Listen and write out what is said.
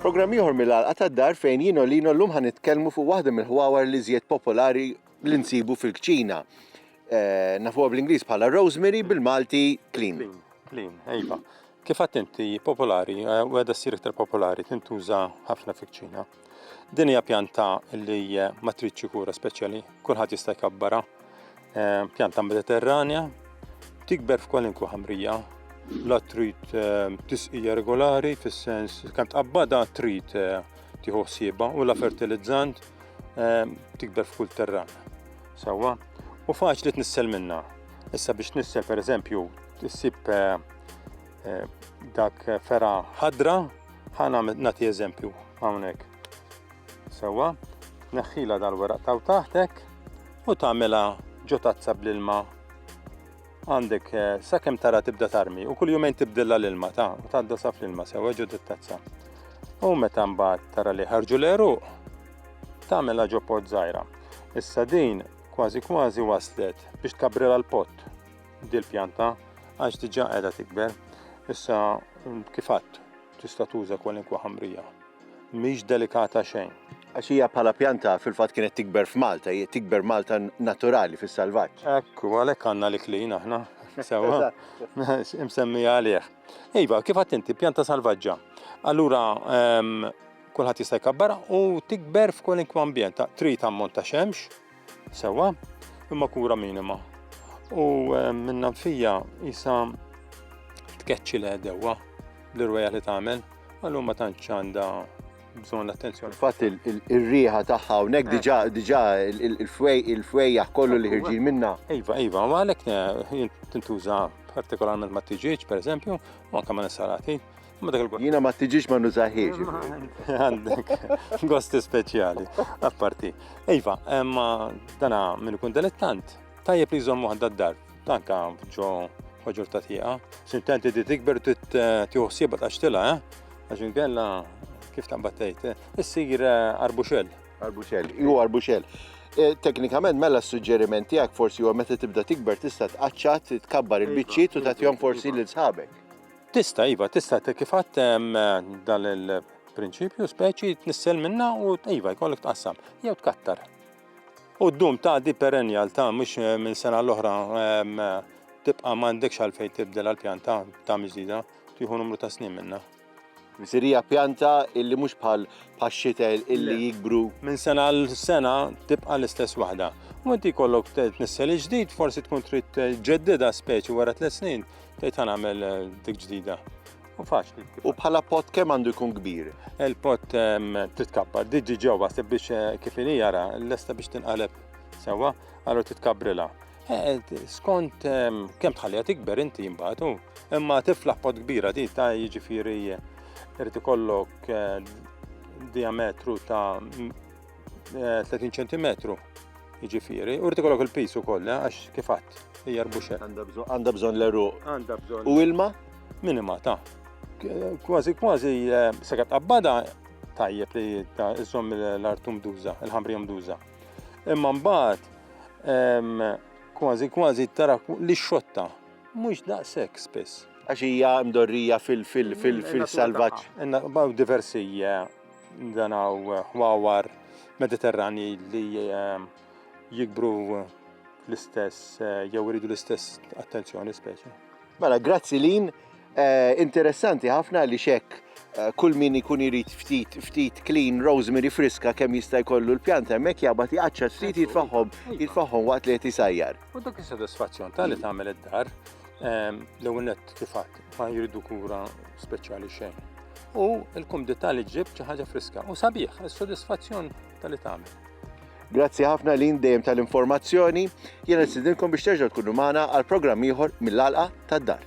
Programm ieħor mill-għalqa tad-dar fejn jien u Lino llum ħa nitkellmu fuq waħda mill-ħwawar li żjed popolari li nsibu fil-kċina. Eh, nafuha bl-Ingliż bħala rosemary bil-Malti clean. Clean, ejba. Kif għadt inti popolari, eh, u għedha ssir iktar popolari, tintuża ħafna fikċina. Din hija pjanta li eh, ma tridx kura speċjali, kulħadd jista' jkabbara. Eh, pjanta mediterranja, tikber f'kwalinkwa ħamrija, la trid tisqija regolari fis-sens kemm tqabbada trid tieħu ħsieba u la fertilizzant tikber f'kull terran. Sewwa, u faċli tnissel minna. Issa biex tnissel pereżempju Issib eh, eh, dak fera ħadra, ħana nati eżempju hawnhekk. Sewwa, neħħila dal-weraq taw taħtek u tagħmilha ġo tazza bl-ilma għandek eh, sakemm tara tibda tarmi u kull jumejn tibdilla l-ilma ta' u tgħadda saf l-ilma sewa ġod it-tazza. U meta mbagħad tara li ħarġu l-eruq tagħmilha ġo pot żgħira. Issa din kważi kważi waslet biex tkabrela l-pott. dil-pjanta għax diġà qiegħda tikber. Issa kif għadd tista' tuża kwalinkwa ħamrija. Mhix delikata xejn. Għax hija bħala pjanta fil-fatt kienet tikber f'Malta, hija tikber Malta naturali fis-salvaġġ. Ekku, għalhekk għandna li klin aħna. Sewa, imsemmi għalih. Iva, kif għadd inti pjanta salvaġġa. Allura ehm, kulħadd jista' jkabbar u tikber f'kwalinkwa ambjent. Trid ammont ta' xemx, Sewwa, imma kura minima. U eh, minna fija jisa tkeċċi l dewwa l-irweja li tagħmel, għallu ma tantx għandha bżon l-attenzjoni. Fatt il-riħa taħħa hawnhekk diġà eh. diġà il-fwejja kollu li ħirġin minna. Iva, iva, u għalhekk eh, tintuża partikolarment ma' tiġieġ, per eżempju, u anke ma' nisarati. Jina ma tiġix ma nużaħiex. Għandek, gosti speċjali, apparti. Iva, ma dana minn kun delettant, tajjeb li jżommu għadda d-dar, tanka ġo ħoġur ta' tieqa. Sintenti di tikber tiħuħsieba ta' xtila, eh? Għaxin kella, kif ta' battejt, eh? issir eh, arbuxel. Arbuxel, ju arbuxel. Eh, teknikament mela s-suġġeriment tiegħek forsi huwa meta tibda tikber tista' tqaċċat tkabbar il-biċċiet u tagħtihom forsi lil sħabek. Tista' iva, tista' kif għadd dan il-prinċipju speċi tnissel minna u iva jkollok tqassam jew tkattar. U d-dum ta' di perennial ta' mhux eh, minn sena l-oħra ehm, tibqa' m'għandekx għalfejn tibdel għall-pjanta ta' miżida tieħu numru ta' snin minna. Sirija pjanta illi mhux bħal paxxitel illi jikbru. Minn sena għal sena tibqa l-istess waħda. U inti kollok t-nissel ġdid, forsi tkun trid ġeddida speċi wara tliet snin, Tgħid ħa nagħmel eh, dik ġdida. U faċli. U bħala pot kemm għandu jkun kbir? Il-pot ehm, titkappa, diġi ġewwa se biex eh, kif inhi jara, lesta biex tinqaleb sewwa, għallu titkabrila. Eh, skont ehm, kemm tħallija tikber inti jimbatu, imma tiflaħ pot kbira di ta' jiġifieri irid ikollok diametru ta' 30 eh, ċentimetru jiġifieri, u rrid ikollok il-pis ukoll eh, għax kif għadd hija rbuxek. Għandha bżonn l-eruq. Għandha bżonn. U ilma? Minima ta' kważi kważi eh, sekat qabbada tajjeb li ta' iżżomm l-artum duża, il-ħamri duża. Imma mbagħad ehm, kważi kważi tara li xotta mhux daqshekk spiss. Għax hija mdorrija fil-fil-fil-salvaġġ. Diversi eh, Dan hawn ħwawar Mediterranji li ehm, jikbru l-istess eh, jew iridu l-istess attenzjoni speċi. Mela, grazzi lin, eh, interessanti ħafna li xek Eh, kull min ikun irid ftit ftit clean rosemary friska kemm jista' jkollu l-pjanta hemmhekk jabad jaqaċċa ftit jitfaħħom jitfaħħom waqt li qed isajjar. U dak is-sodisfazzjon ta' li tagħmel id-dar ehm, l-ewwel nett kif ma jridu kura speċjali xejn. U l-kumdità li ġib xi ħaġa friska u sabiħ, is-sodisfazzjon tal-li tagħmel. Grazzi ħafna lin dejjem tal-informazzjoni. Jiena nistidilkom biex terġgħu tkunu magħna għal programm ieħor mill-alqa tad-dar.